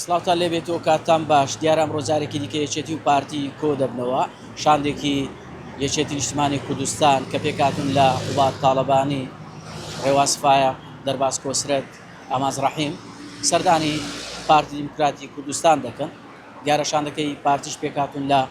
سڵاوتان لێ بێت و کاتتان باش. دیارە ئەمڕۆ جارێکی دیکە یەکێتی و پارتی کۆ دەبنەوە. شاندێکی یەکێتی نیشتمانی کوردستان کە پێکهاتوون لە قوباد تاڵەبانی، رێواز فایەق، دەرباز کۆسرەت، ئاماز رەحیم، سەردانی پارتی دیموکراتی کوردستان دەکەن. دیارە شاندەکەی پارتیش پێکهاتوون لە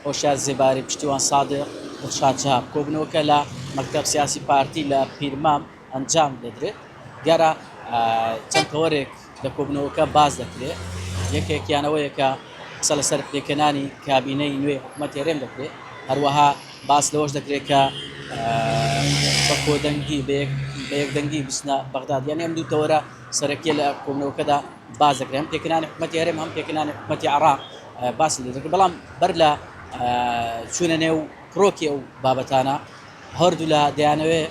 هۆشیار زێباری، پشتیوان سادق، دڵشاد شەهاب. کۆبوونەوەکە لە مەکتەب سیاسی پارتی لە پیرمام. ئەنجام دەدرێت دیارە چەند تەوەرێک لە کۆبنەوەکە باس دەکرێت یەکێکیان ئەوەیە کە قسە لەسەر پێکەنانی کابینەی نوێ حکومەت هێرێم دەکرێت هەروەها باس لەوەش دەکرێت کە بە کۆدەنگی بەیەکدەنگی بچنە بەغداد یان ئەم دوو تەوەرە سەرەکیە لە کۆبنەوەکەدا باس دەکرێن پێکەنانی حکومەتی هەرێم هەم پێکەنانی حکومەتی عراق باس دەکرێت بەڵام بەر لە چوونە نێو کرۆکی ئەو بابەتانە هەردوو لە دەیانەوێت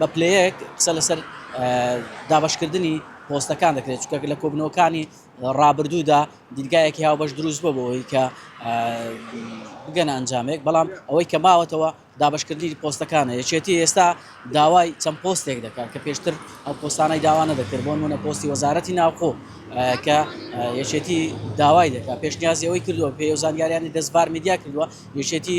بە پلەیەک قسە لەسەر دابەشکردنی پۆستەکان دەکرێت چکە لە کۆبنەوەکانی ڕابردوودا دیدگایەکی هاوبەش دروست بۆ بۆەوەی کە بگەن ئەنجامێک بەڵام ئەوەی کە ماوەتەوە دابشکردنی پۆستەکانە یەکێتی ئێستا داوای چەند پۆستێک دەکات کە پێشتر ئەو پۆستانەی داوانە دەکرد بۆ منە پۆستی وەزارەتی ناوخۆ کە یەکێتی داوای دەکات پێشنیازیەوەی کردووە پێ و زانیاریانی دەستبار میدیا کردووە یەکێتی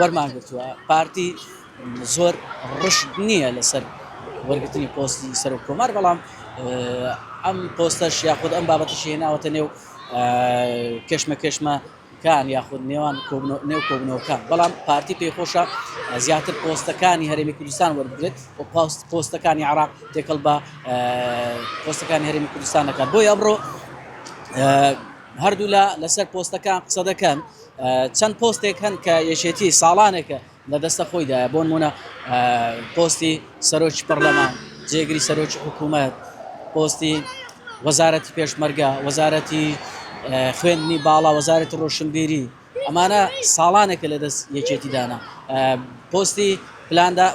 وەرمانگرتووە پارتی زۆر ڕژد نییە لەسەر وەرگتنی پۆستی سەر و کۆمار بەڵام ئەم پۆستەش یاخود ئەم بابەتەشی هێناوەتە نێو کەشمە کەشمە کان یاخود نێوان نێو کۆبنەوەکان بەڵام پارتی پێی خۆشە زیاتر پۆستەکانی هەرێمی کوردستان وەربگرێت و پاست پۆستەکانی عراق تێکەڵ بە پۆستەکانی هەرێمی کوردستان دەکات بۆی ئەمڕۆ هەردوولا لەسەر پۆستەکان قسە دەکەن چەند پۆستێک هەن کە یەکێتی ساڵانێکە لە دەستە خۆیدایە، بۆنموونە پۆستی سەرۆکی پەڕلەمان، جێگری سەرۆکی حکوومەت، پۆستی وەزارەتی پێشمەرگە، وەزارەتی خوێندنی باڵا، وەزارەتی ڕۆشنبیری، ئەمانە ساڵانێکە لە دەست یەکێتی دانە، پۆستی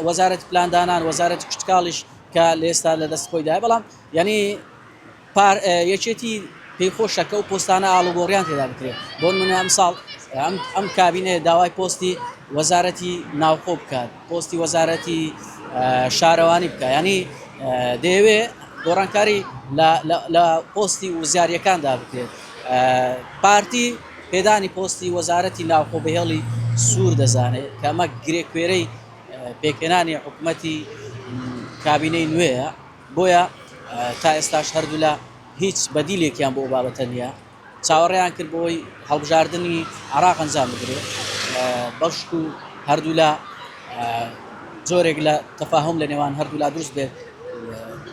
وەزارەتی پلاندانان، وەزارەتی کشتوکاڵیش کە لە ئێستا لە دەست خۆیدایە، بەڵام یانی. پار یەکێتی پێی خۆشە کەو پۆستانە ئاڵوگۆڕیان تێدا بکرێت بۆن منە ئەم ساڵ ئەم کابینەیە داوای پۆستی وەزارەتی ناوخۆ بکات پۆستی وەزارەتی شارەوانی بکە ینی دەیەوێ گۆڕانکاری لە پۆستی وزیارەکاندا بکرێت پارتی پێدانی پۆستی وەزارەتی ناوخۆ بەهێڵی سوور دەزانێت کەمە گرێکوێرەی پێکێنانی حکوومەتی کابینەی نوێە بۆیە تا ئێستاش هەردوولا هیچ بەدیلێکیان بۆ ئەو بابەتە نییە، چاوەڕێیان کرد بۆ ئەوەی هەڵبژاردنی عێراق ئەنجام بدرێت، بەشکو هەردوولا جۆرێک لە تەفاهوم لە نێوان هەردوولا دروست بێت،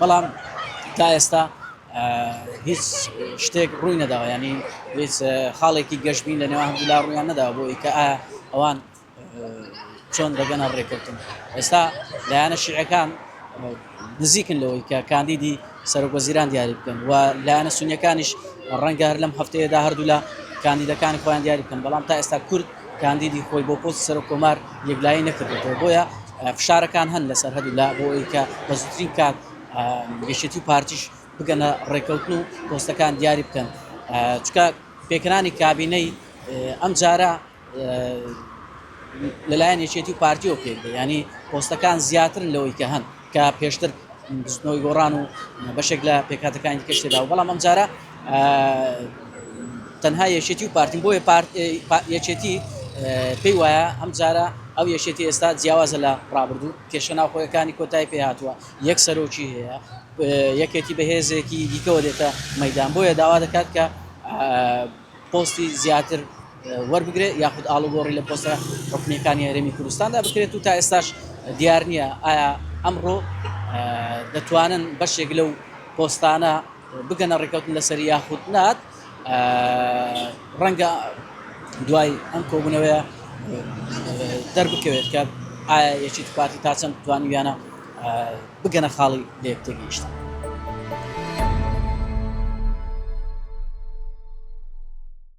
بەڵام تا ئێستا هیچ شتێک ڕووی نەداوە، یانی هیچ خاڵێکی گەشبین لە نێوان هەردوولا ڕوویان نەداوە بۆ ئەوەی کە ئایا ئەوان چۆن دەگەنە ڕێککەوتن ئێستا لایەنە شیعەکان نزیکن لەوەی کە کاندیدی سەرۆک وەزیران دیاری بکەن و لایەنە سونیەکانیش ڕەنگە هەر لەم هەفتەیەدا هەردوو لە کاندیدەکانی خۆیان دیاری بکەن بەڵام تا ئێستا کورد کاندیدی خۆی بۆ پۆست سەرۆک کۆمار یەکلایی نەکردێتەوە بۆیە فشارەکان هەن لەسەر هەردوو لا بۆی کە بە زوترین کات گەشتی و پارتیش بگەنە ڕێککەوتن و پۆستەکان دیاری بکەن چکە پێکرانی کابینەی ئەم جارە لەلایەن یەکێتی و پارتیەوە پێک دێ ینی پۆستەکان زیاترن لەوەی کە هەن کە پێشتر بزنەوەی گۆڕان و بەشێک لە پێکاتەکانی کەشتدا و بەڵام ئەمجارە تەنها یەکێتی و پارتیم بۆیە یەکێتی پێی وایە ئەمجارە ئەو یەکێتی ئێستا جیاوازە لە ڕابردوو کێشە ناوخۆیەکانی کۆتای پێ هاتووە یەک سەرۆکی هەیە یەکێتی بەهێزێکی دیکەوە دێتە مەدان بۆیە داوا دەکات کە پۆستی زیاتر وەربگرێت یاخود ئاڵوگۆڕی لە پۆستە حکومیەکانی هەرێمی کوردستاندا بکرێت و تا ئێستاش دیار نییە ئایا ئەمڕۆ دەتوانن بەشێک لەو پۆستانە بگەنە ڕێککەوتن لەسەر یاخود نات ڕەنگە دوای ئەم کۆبوونەوەیە دەربکەوێت کە ئایا یەکێتی پارتی تا چەند توانیویانە بگەنە خاڵی لە یەک تێگەیشتن.